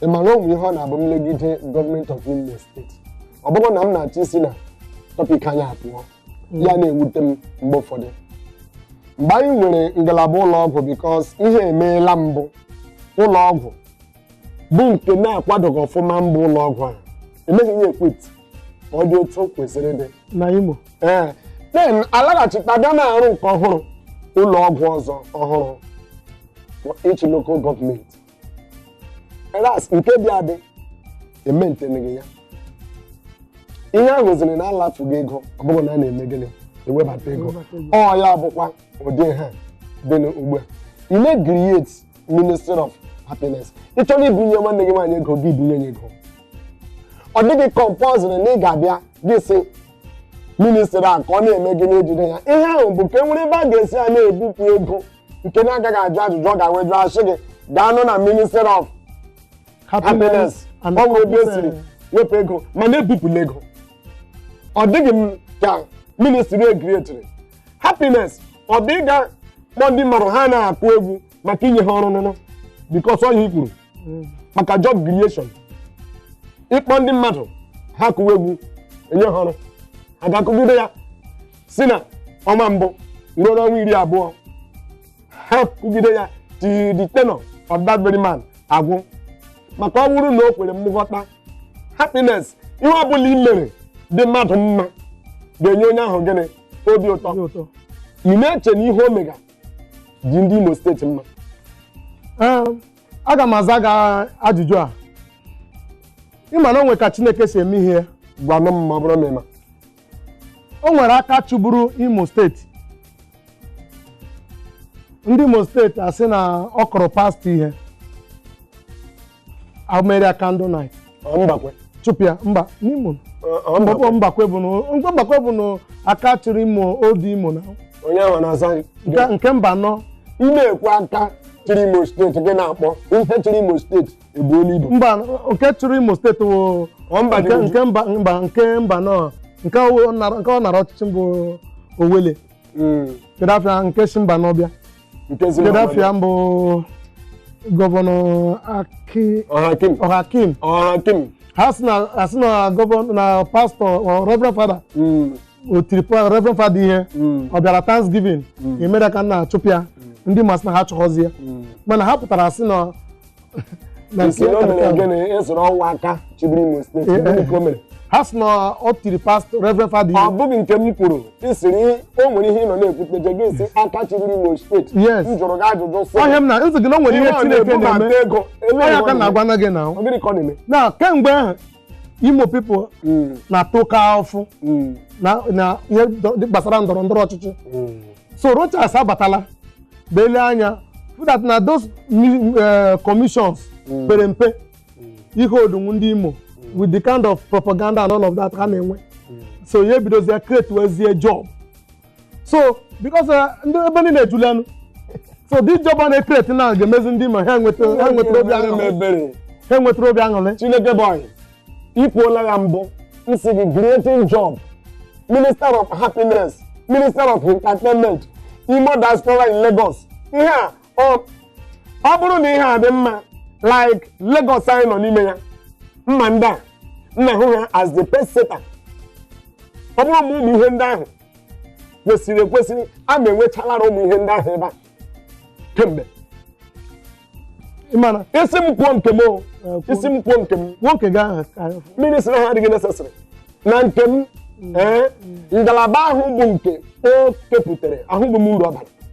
ị mara o nwe ihe ọ na-abụ m legide gọọmenti of Imo steeti ọ bụrụ na m na-achọ isi na tọpik anyị apụọ ya na-ewute m mgbe ụfọdụ mgbe anyị nwere ngalaba ụlọ ọgwụ bikos ihe emeela mbụ ụlọ ọgwụ bụ nke na-akwadoghị ọfụma mbụ ụlọ ọgwụ a emeghị ya ekwip ka ọ dị otu o kwesịrị dị na imo ee then alaghachita bịa na-arụ nke ọhụrụ ụlọ ọgwụ ọzọ ọhụrụ for each local gọọmenti ras nke dị adị ementeneghị ya ihe ahụ ziri na alafuga ego ọ bụghị na a na-eme gịnị ewebata ego Ewebata ego. ọ ya bụkwa ụdị ha dị n'ugbu a ị na-ekriet ministry of happiness ị chọrọ ibunye nwanne gị nwaanyị ego gị bunye ya ego ọ dịghị compulsory na ị ga-abịa gị si ministri a ka ọ na-eme gị n'ejide ya ihe ahụ bụ ka e nwere ebe a ga-esi a na-ebupụ ego nke na-agaghị ajụ ajụjụ ọ gawa ịjụ asị gị gaanụ na ministry of happiness and ọ nwere ebe e siri wepụ ego mana ebupụla ego ọ dịghị m ka ministri ekrietiri happiness ọ bụ ịga kpọ ndị mmadụ ha na-akụ egwu maka inye ha ọrụ n'ụlọ bikos ọ ihe i kwuru maka job creation ịkpọ ndị mmadụ ha kụwa egwu enye ha ọrụ ha ga-akụgide ya si na ọnwa mbụ ruo n'ọnwa iri abụọ ha kụgide ya till the tenure of that very man agwụ maka ọ bụrụ na o kwere mmụ ghọta happiness ihe ọ bụla i mere dị mmadụ mma ga-enye onye ahụ gịnị obi ụtọ Obi ụtọ. ị na-eche na ihe o mega dị ndị Imo steeti mma Ee, aga m aza gị ajụjụ a ị ma na o nwe ka chineke si eme ihe ya gwanụ m ma ọ bụrụ na ị ma o nwere aka chịburu imo steeti ndị imo steeti asị na ọ kụrụ pastọ ihe emeere ya candle night Ọ Mbakwe. chụpụ ya mba n'imo Ọ- ọ Mbakwe. Mbakwe bụ na mgbe Mbakwe bụnụ aka chịrị imo old imo na Onye ahụ na-aza gị. nke nke Mbano Ị na-ekwu aka chịrị Imo steeti gị na-akpọ ife chịrị Imo steeti ebuo n'ibu mba nke chịrị imo steeti wụ Ọ mba dị nke uju. nke mba mba nke Mbano nke ọ nara- nke ọ nara ọchịchị m bụ Owelle Mm, kedu afa ya nke si Mbano bịa nke si kedu mba afa ya m bụ gọvanọ aki ọhakim ọhakim ọhakim ha si na ha si na gọvanọ na pastọ ọ, reverend fada Mm, o tiri pa- reverend fada ihe mm, ọ bịara thanksgiving emere ka a na-achụpụ ya ndị Imo sị na ha chọghọzi ya mm. mana ha pụtara sị na ha si na ọ tiri pastọ reverend fada ọ bụghị nke m kwuru isiri o nwere ihe ị nọ na-ekwute je gị si aka chịbiri imo steeti yes m jụrụ gị ajụjụ sị ọhịa m na-asị gị na o nwere ihe chineke na-eme onye aka na-agwa na gị na na kemgbe ahụ imo people mm. na-ata oke afụfụ mm. na ihe gbasara ndọrọ ndọrọ ọchịchị mm. so Rochas abatala bịa lee anya that na those eh, commissions pere mpe ihe odunwu ndị imo with the kind of propaganda and all of that ha na-enwe so ya ebidozie createwezie job so because uh, ndị ebe niile ejulanụ so this job a na-ekreti na ga-emezi ndị imo ha enwetara obi aṅụrị chineke boy ikwuola ya mbụ m sị gị creating job minister of happiness minister of entertainment imo diaspora in lagos ihe a o ọ bụrụ na ihe a dị mma like Lagos anyị nọ n'ime ya mma ndị a na-ahụ ha as the pace setter ọ bụrụ ma ụmụ ihe ndị ahụ kwesịrị ekwesịrị a ma enwechalara ụmụ ihe ndị ahụ ebe a kemgbe ị ma na ị sị m kwuo nke m o ị sị m kwuo nke m nwoke gị ahụ ka ya fụ. ministry ha adịghị necessary na nke m ee ngalaba ahụ bụ nke o kepụtara ahụghị m uru ọ bara